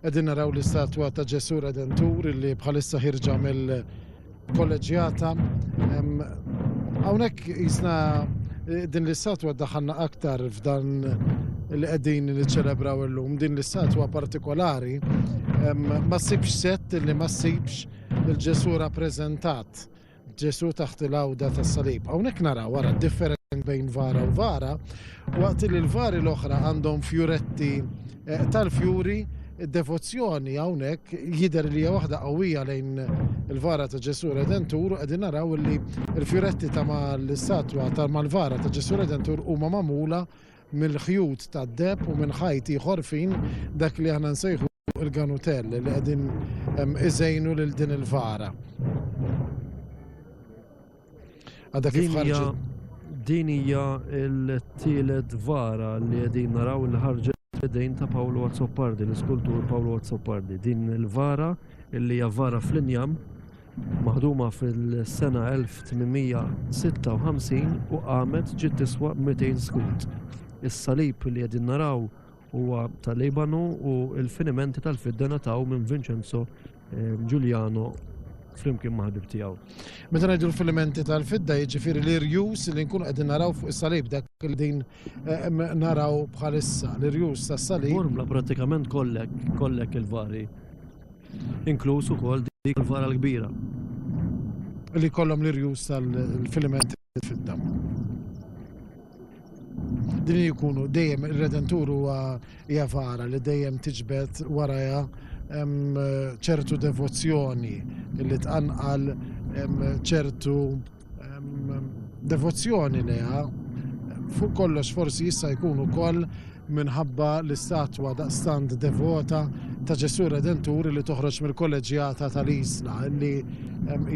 Qegħdin naraw l-istatwa ta' Ġesù Redentur li bħalissa ħirġa mill-kolleġjata. Hawnhekk jisna eh, din l-istatwa daħanna aktar f'dan li qegħdin niċċelebraw illum. Din l-istatwa partikolari ma ssibx set li ma ssibx Lil Ġesù rappreżentat Ġesù taħt il-għawda tas-salib. Hawnhekk naraw wara d-differenza bejn vara u vara, waqt li l-vari l-oħra għandhom fjuretti eh, tal-fjuri, id-devozzjoni hawnhekk jidher li hija waħda qawwija lejn il-vara ta' Ġesù Redentur u qegħdin naraw li l-fjuretti ta' mal-istatwa ta' mal-vara ta' Ġesù Redentur huma magħmula mill-ħjut tad-deheb u minn ħajt ieħor fin dak li aħna nsejħulu il-ganutell li qegħdin iżejnu lil din il-vara. Għadha kif ħarġet. Din hija l-tielet vara li qegħdin naraw li ħarġet fidejn ta' Paolo Azzopardi, l-iskultur Paolo Azzopardi. Din il-vara illi hija vara fl-injam maħduma fil-sena 1856 u qamet ġiet tiswa 200 skud. Is-salib li qegħdin naraw huwa tal-Libanu u l-finimenti tal-fidda nataw minn Vincenzo eh, Giuliano flimkien ma' ħabib tiegħu. Meta ngħidu l-filimenti tal-fidda jiġifieri li rjus li nkunu qegħdin naraw fuq is-salib dak li din eh, naraw bħalissa l-irjus tas-salib. Formla prattikament kollek kollek il-vari inkluż ukoll dik tal-fara l-kbira. Li jkollhom l-irjus tal-filimenti fid-damm. Din jkunu dejjem ir-Redentur huwa hija fara li dejjem tiġbed warajha ċertu devozzjoni li tqanqal ċertu Devozzjoni leha fuq kollox forsi jista' jkun ukoll minħabba l-istatwa daqstant devota ta' Ġesù Redentur li toħroġ mill-kolleġjata tal-Isla li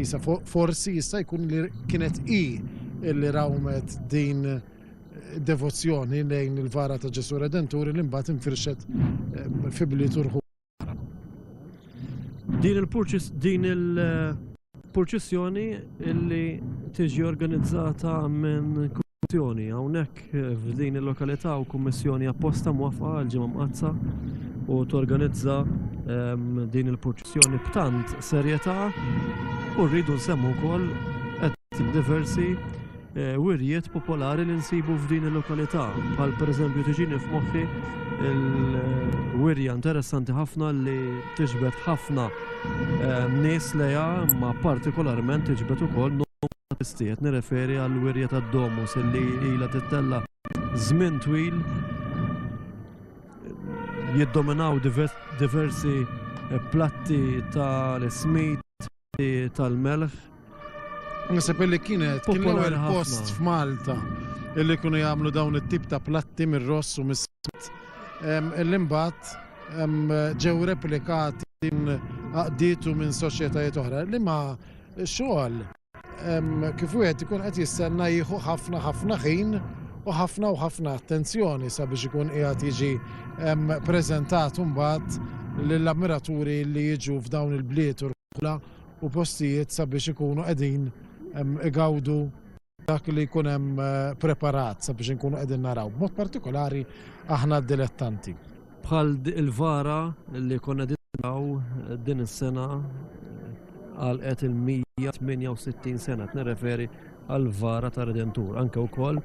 isa forsi jista' jkun li kienet i li rawmet din devozzjoni lejn il-vara ta' Ġesù Redentur li mbagħad infirxet fi bliet Din il-purċissjoni illi tiġi organizzata minn kummissjoni hawnhekk f'din il-lokalità u kummissjoni apposta mwafqa għal ġimgħa mqazza u torganizza ehm, din il-purċissjoni b'tant serjetà u rridu nsemmu wkoll qed diversi wirjiet popolari li nsibu f'din il-lokalità. Bħal pereżempju tiġini f'moħħi il-wirja interessanti ħafna li tiġbed ħafna eh, nies leja ma partikolarment tiġbed ukoll numru nirreferi għal wirja tad-domus li ilha tittella żmien twil jiddominaw diversi eh, platti tal-ismit tal-melħ. Nasib li kienet kien l-ewwel post f'Malta illi kienu jagħmlu dawn it-tip ta' platti mir-ross u mis-sit. Illi mbagħad ġew replikati din aqditu minn soċjetajiet oħra li ma xogħol kif wieħed ikun qed jistenna jieħu ħafna ħafna ħin u ħafna u ħafna attenzjoni sabiex ikun qiegħed jiġi preżentat imbagħad lill-ammiraturi li jiġu f'dawn il-bliet u rħula u postijiet sabiex ikunu qegħdin igawdu dak li jkun hemm eh, preparat sabiex inkunu qegħdin naraw. B'mod partikolari aħna dilettanti. Bħal il-vara li konna dinnaw eh, din is-sena eh, għal qed il-168 sena, nirreferi għall-vara tar-Redentur, anke wkoll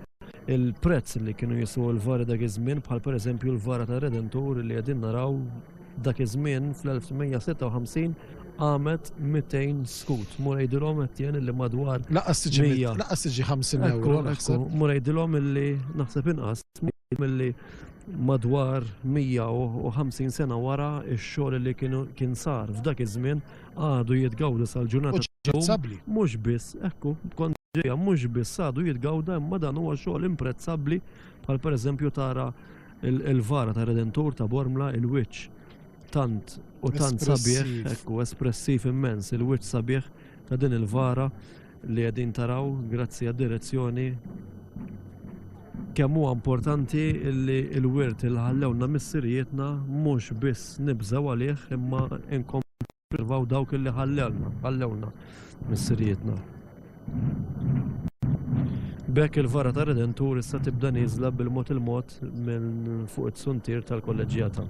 il-prezz li kienu jiswew il-vari dak iż-żmien bħal pereżempju l-vara tar-Redentur li qegħdin naraw dak iż-żmien fl-1856 qamet 200 skut. Mur jgħidilhom qed jien li madwar. Laqas tiġi laqas tiġi 50 euro. Mur jgħidilhom illi naħseb inqas milli madwar 150 sena wara x-xogħol li kien sar f'dak iż-żmien għadu jitgawda sal-ġurnata ċabbli. Mhux biss, ekku, kont ġejja mhux biss għadu jitgawda imma dan huwa xogħol imprezzabbli bħal pereżempju tara il-vara ta' Redentur ta' Bormla il-wiċċ tant u tant sabiħ, ekku, espressiv immens il-wiċċ sabiħ ta' din il-vara. li qegħdin taraw grazzi għad-direzzjoni kemm huwa importanti li l-wirt li ħallewna missirijietna mhux biss nibżgħu għalih imma nkomplu dawk li ħallewna, ħallewna missirijietna. B'hekk il-vara ta' Redentur issa tibda nieżla bil-mod il-mod minn fuq it-suntier tal-kolleġġjata.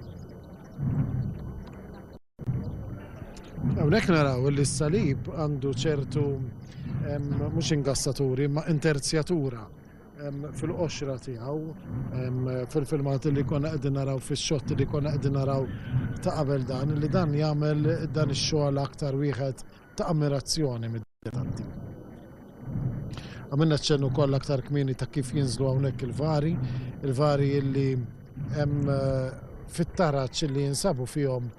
Hawnhekk naraw li s-salib għandu ċertu mhux ingassaturi ma interzjatura fil-qoxra tiegħu fil-filmat li konna qegħdin naraw fix-xott li konna qegħdin naraw ta' qabel dan li dan jagħmel dan ix-xogħol aktar wieħed ta' ammirazzjoni. inkwietanti. Għamilna ċennu koll aktar kmini ta' kif jinżlu hawnhekk il-vari, il-vari illi hemm eh, fit-taraċ li jinsabu fihom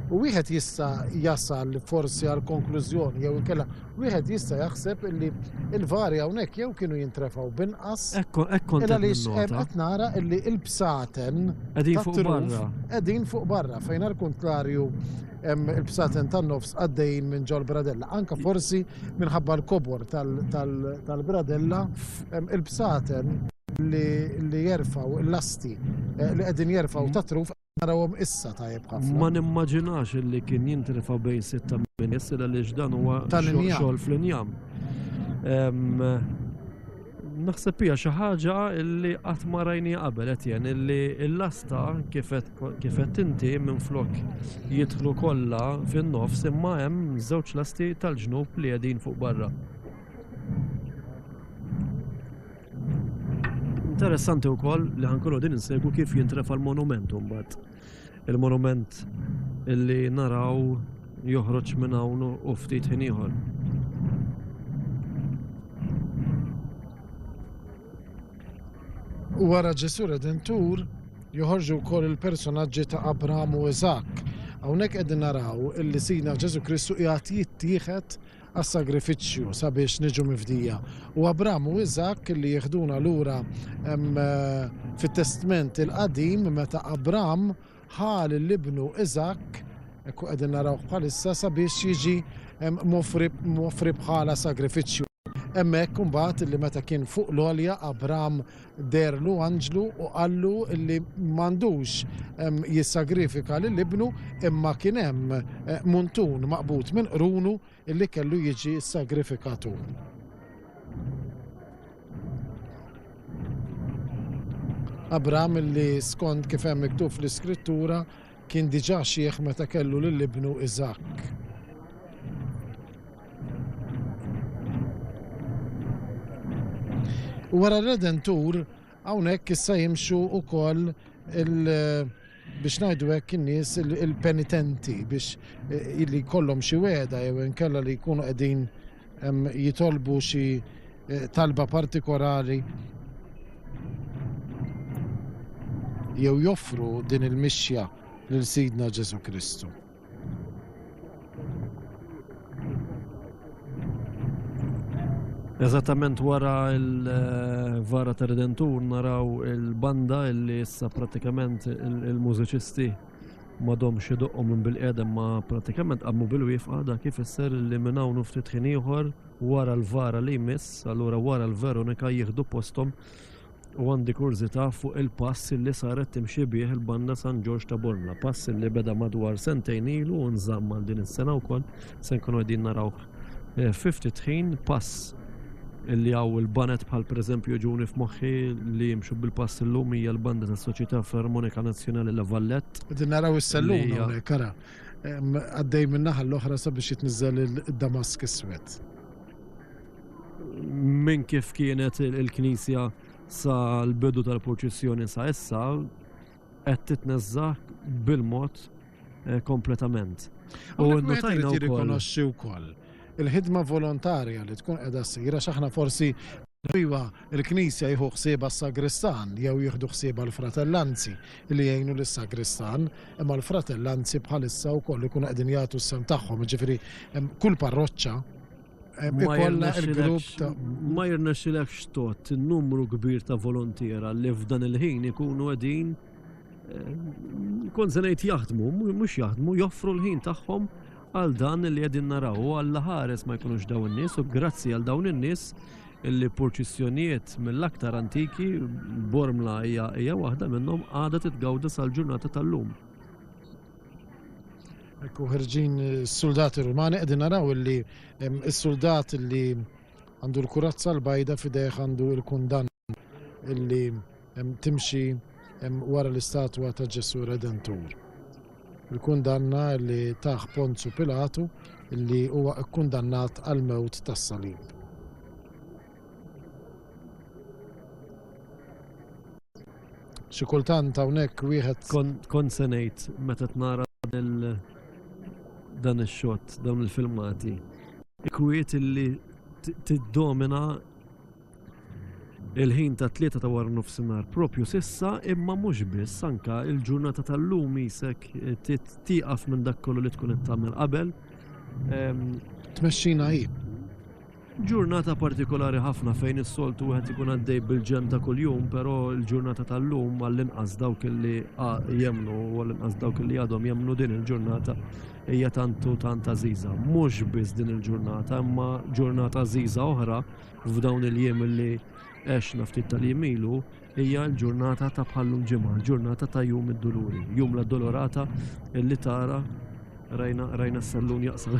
U wieħed jista jasal forsi għal konklużjoni jew inkella wieħed jista jaħseb illi il-vari hawnhekk jew kienu jintrefaw binqas. Ekku, ekku Illa li qed nara illi il-bsaten qegħdin fuq barra. Qegħdin fuq barra fejn għal kuntrarju hemm il-bsaten tan-nofs għaddejjin minn ġol bradella. Anka forsi minħabba l-kobor tal-bradella, il-bsaten li jerfaw l-lasti eh, li qegħdin jerfaw ta' truf narawhom issa tajjeb ħafna. Ma nimmaġinax li kien jintrefa' bejn sitta minn jessila li dan huwa xogħol fl-injam. Naħseb hija xi ħaġa li qatt ma rajni qabel qed jen illi l-lasta kif qed inti minflok jidħlu kollha fin-nofs imma hemm żewġ lasti tal-ġnub li qegħdin fuq barra. Interessanti wkoll li ħankunu din insegwu kif jintrefa l-monument mbagħad. Il-monument illi naraw joħroġ minn hawn u ftit ħin ieħor. U wara Ġesu Redentur joħorġu wkoll il-personaġġi ta' Abram u Iżak. Hawnhekk qegħdin naraw illi Sidna Ġesu Kristu qiegħed jittieħed għas-sagrifiċċju sabiex niġu mifdija. U Abram u Iżakk li jieħduna lura fit-Testment il-Qadim meta Abram ħal l-ibnu Iżakk ekku qegħdin narawh bħalissa sabiex jiġi mofri bħala sagrifiċċju. Hemmhekk imbagħad li meta kien fuq l-għolja Abram Deherlu anġlu u qallu li m'għandux jissagrifika lil ibnu imma kien hemm muntun maqbud minn qrunu li kellu jiġi ssagrifikatu. Abraham li skond kif hemm miktub fl-Iskrittura Kien diġà xiħ meta kellu lil ibnu Iżakk. U wara r-Redentur hawnhekk issa jimxu wkoll il- biex ngħidu hekk in-nies il-penitenti biex eh, li jkollhom xi weda jew inkella li jkunu qegħdin jitolbu xi eh, talba partikolari jew joffru din il-mixja lil Sidna Ġesu Kristu. Eżattament wara il-vara eh, ta' Redentur naraw il-banda illi issa pratikament il-mużiċisti M'għadhomx idoqqu minn bilqiegħda imma prattikament qabmu bilwieqfa, dak ifisser li minn hawn u ftit ħin ieħor wara l-vara li jmiss, allura wara l-Veronika jieħdu posthom u għandi kurżità fuq il-pass li saret timxi bih il-Banda San Ġorġ ta' Bormla, pass li beda madwar sentejn ilu u nżamm għal din is-sena wkoll. Se nkunu qegħdin naraw fi ftit ħin pass li hawn il-banet bħal pereżempju ġuni f'moħħi li jimxu bil-pass illum hija l-banda tas-Soċjetà Filarmonika Nazzjonali La Vallette. Qegħdin naraw is-sellum hawnhekk ara. Għaddej min-naħa l-oħra sabiex jitniżżel id-damask iswed. Minn kif kienet il-Knisja sa l-bidu tal-purċissjoni sa issa, qed titneżża' bil-mod kompletament. U Hawnhekk wieħed nnotajna irid wkoll. jirrikonoxxi wkoll il-ħidma volontarja li tkun qiegħda ssir għax aħna forsi iva l-Knisja jieħu ħsiebha s-sagristan jew jieħdu ħsiebha l-fratellanzi li jgħinu lis-sagristan, imma l-fratellanzi bħalissa wkoll ikunu qegħdin jagħtu s-sehem tagħhom, jiġifieri hemm kull parroċċa, Ma jirna xilek xtot numru kbir ta' volontira li f'dan il-ħin ikunu għedin eh, kon zanajt jaħdmu, mux jaħdmu, joffru l-ħin tagħhom għal dan li għedin naraw u għall ħares ma jkunux daw n-nis u grazzi għal dawn n-nis li purċissjonijiet mill-aktar antiki bormla hija waħda minnhom għadha titgawda sal-ġurnata tal-lum. Ekku ħerġin is-suldati Rumani qegħdin naraw illi is-suldat li għandu l-kurazza l-bajda fidejh għandu l-kundanna illi timxi wara l-istatwa ta' Ġesu Redentur. Il-kundanna li taħ Ponzu Pilatu li huwa kkundannat għal mewt tas-salib. Xi kultant hawnhekk wieħed kont se ngħid meta tnara dan ix-xott, dawn il-filmati, kwiet illi tiddomina il-ħin ta' tlieta ta' wara nofsinhar propju sissa imma mhux biss anka il-ġurnata tal-lum isek tieqaf minn dak kollu li tkun qed tagħmel qabel. Ehm, Tmexxina hi. Ġurnata partikolari ħafna fejn is-soltu wieħed ikun għaddej bil-ġenn ta' kuljum, però l-ġurnata tal-lum għall-inqas dawk li jemmnu u għall-inqas dawk li għadhom jemmnu din il-ġurnata hija tant u tant għażiża. Mhux biss din il-ġurnata, imma ġurnata għażiża oħra f'dawn il-jiem li għexna ftit tal-jiem ilu Hija l-ġurnata ta' bħal-lum ġimgħa, l-ġurnata ta' Jum id-Duluri, Jum l-Addolorata li tara rajna rajna s-sallun jaqsam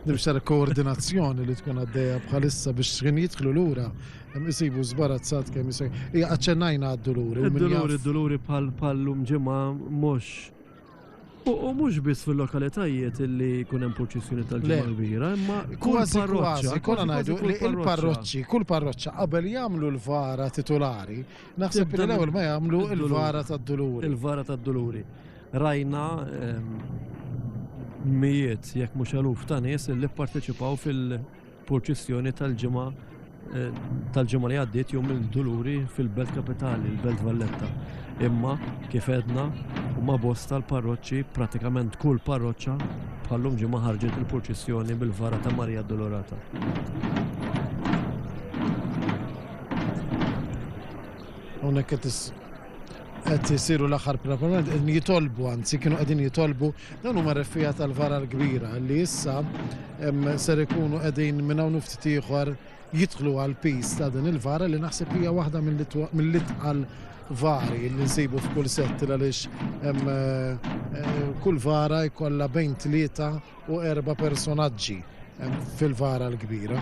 Nimx tara koordinazzjoni li tkun għaddejja bħalissa biex xħin jidħlu lura isibu żbarazzat kemm jisaj. Hija aċċennajna għad-duluri. Id-duluri, id-duluri bħal-lum ġimgħa mhux U mhux biss fil-lokalitajiet li jkun hemm purċissjoni tal-Ġimgħa l-Kbira, imma kull parroċċa. Kollha ngħidu li l-parroċċi, kull parroċċa qabel jagħmlu l-vara titulari, naħseb li l-ewwel ma jagħmlu l-vara tad-duluri. Il-vara tad-duluri. Rajna ehm, mijiet, jekk mhux eluf ta' nies li pparteċipaw fil- Purċissjoni tal-ġimgħa tal-ġimgħa li għaddiet jum il-Duluri fil-Belt Kapitali, il-Belt Valletta. Imma kif edna huma bosta l-parroċċi, pratikament kull parroċċa bħallum ġimgħa ħarġet il-purċissjoni bil-vara ta' Marija Dolorata. Hawnhekk qed qed isiru l-aħħar preparament, qegħdin jitolbu, anzi kienu qegħdin jitolbu, dawn huma refija tal-vara l-kbira li issa ser ikunu qegħdin minn hawn ftit ieħor jidħlu għal pis ta' din il-vara li naħseb hija waħda mill-itqal vari li nsibu f'kull sett għaliex eh, kull vara jkollha bejn tlieta u erba' personaġġi fil-vara l-kbira.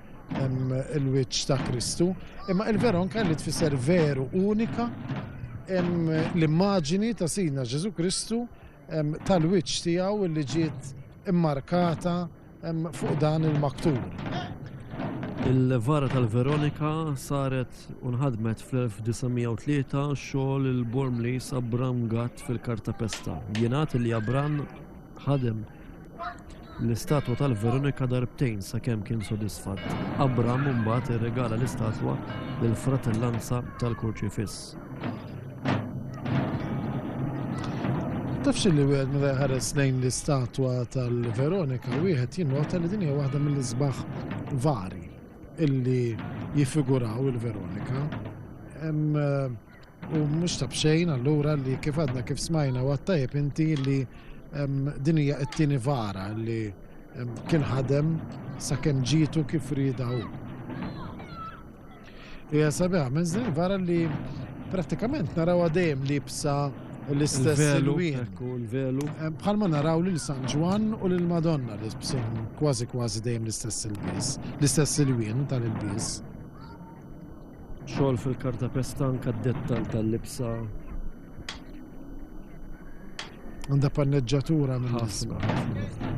il-wiċċ ta' Kristu, imma il-veronka li tfisser veru unika l-immaġini ta' Sidna Ġesu Kristu tal-wiċċ tiegħu li ġiet immarkata fuq dan il-maktub. Il-vara tal-Veronika saret unħadmet fl-1903 xogħol il-Bormlis Abram Gatt fil-Kartapesta. Jingħad li Abram ħadem l-istatwa tal-Veronika darbtejn sakemm kien sodisfatt. Abram imbagħad irregala l-istatwa lill-Fratellanza tal-Kurċifiss. Tafx li wieħed meta jħares lejn l-istatwa tal-Veronika wieħed jinnota li din hija waħda mill-isbaħ vari illi jiffiguraw il-Veronika. Eh, U mhux ta' b'xejn allura li kif għadna kif smajna u għattajb inti li din hija t-tieni vara li kien ħadem sakemm ġitu kif rida hu. Hija sabiħa, minn din vara li pratikament naraw dejjem libsa l-istess il-wien. Bħalma naraw lil San Ġwan u lil Madonna li bsin kważi kważi dejjem l-istess il-bis, l-istess il-wien tal-il-bis. Xogħol fil-kartapesta anke d-dettall tal-libsa. Għandha panneġġatura minn ħafna.